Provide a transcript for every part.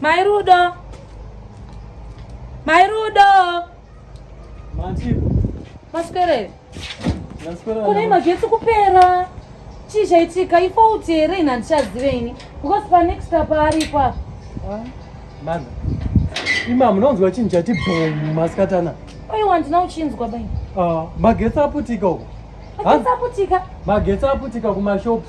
Mai Rudo. Mai Rudo. Matipo. Maswere. Maswere. Kune magetsi kupera. Chii chaitika? Ifault here ini handichazive ini. Because pa next up aripo apa. Ah, mama. Ima munonzwa chinhu chati boom masikatana. Oiwa handina uchinzwa bai. Ah, magetsi aputika uko. Magetsi aputika. Magetsi aputika kuma shops.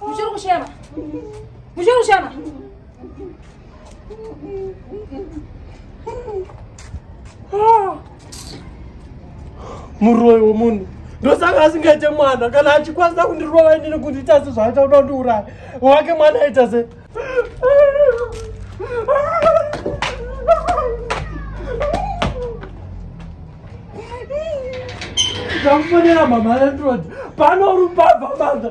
Muchiri kushema. Muchiri kushema. Muroyi womunhu ndosaka asingaite mwana kana achikwanisa kundirova inini kundiita sezvaaita kuda kundiuraya wake mwana aita se Ndakufonera mama landlord pano rupabva manga